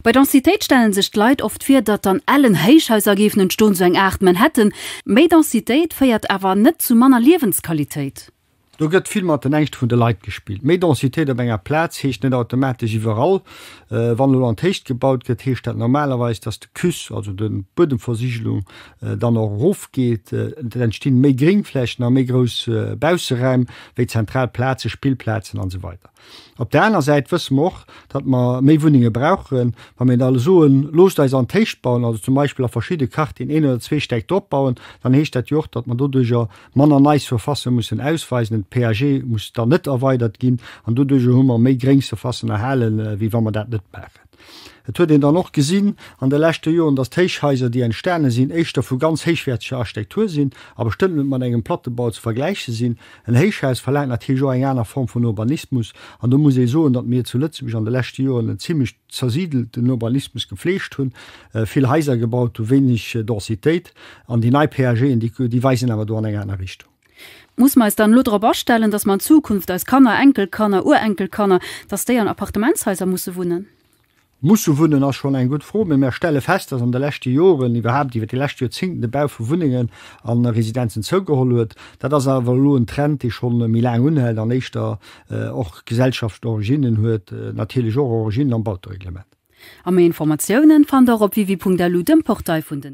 Bei Densitéit stellen sech d'Leit oft vir, datt an ellen Héichhaiser géifen entstoen, esou eng Aart Manhattan. Méi Densitéit féiert awer net zu manner Liewensqualitéit. Do gëtt vill mat den Ängschte vun de Leit gespillt. Méi Densitéit op enger Plaz heescht net automatesch iwwerall. Wann elo an d'Héicht gebaut gëtt, heescht dat normalerweis, datt de CUS, also de Buedemversigelung, dann och erofgeet. Et entstinn méi Gréngflächen a méi grouss Bausseräim, wéi zentral Plazen, Spillplazen an esou weider. Op der aner Säit wësse mer och, datt mer méi Wunnenge brauchen. Wa mir da soen, loosst eis an d'Héicht bauen, also zum Beispill a verschidde Quartieren een oder zwee Stäck drop bauen, dann heescht dat jo och, datt mer doduercher manner nei Surfacen mussen ausweisen, den PAG muss dann net erweidert ginn an doduercher hu mer méi gréng Surfacen erhalen, wéi wa mer dat net maachen. Et huet een dann och gesinn an de leschte Joren, dass d'Héichhaiser, déi entstane sinn, éischter vu ganz héichwäerteger Architektur sinn a bestëmmt net mat engem Plattebau ze vergläiche sinn. En Héichhaus verlaangt natierlech och eng aner Form vun Urbanismus an do muss ee soen, datt mir zu Lëtzebuerg an de leschte Joren en zimlech zersidelten Urbanismus gefleegt hunn, vill Haiser gebaut hunn, wéineg Densitéit an déi nei PAGen, déi weisen awer do an eng aner Richtung. Muss mer eis dann elo drop astellen, dass mer an Zukunft eis Kanner, Enkelkanner, Urenkelkanner, dass déi an Appartementshaiser musse wunnen? Musse wunnen ass schonn eng gutt Fro, mee mer stelle fest, dass an de leschte Joren, iwwerhaapt iwwer déi lescht Joerzingten, de Bau vu Wunnengen a Residenzen zougeholl huet. Dat ass awer elo en Trend, dee scho méi laang unhält an éischter och gesellschaftlecht Originnen huet, natierlech och Originnen am Bautereglement. A méi Informatiounen fannt der op www.lu, dem Portail vun den.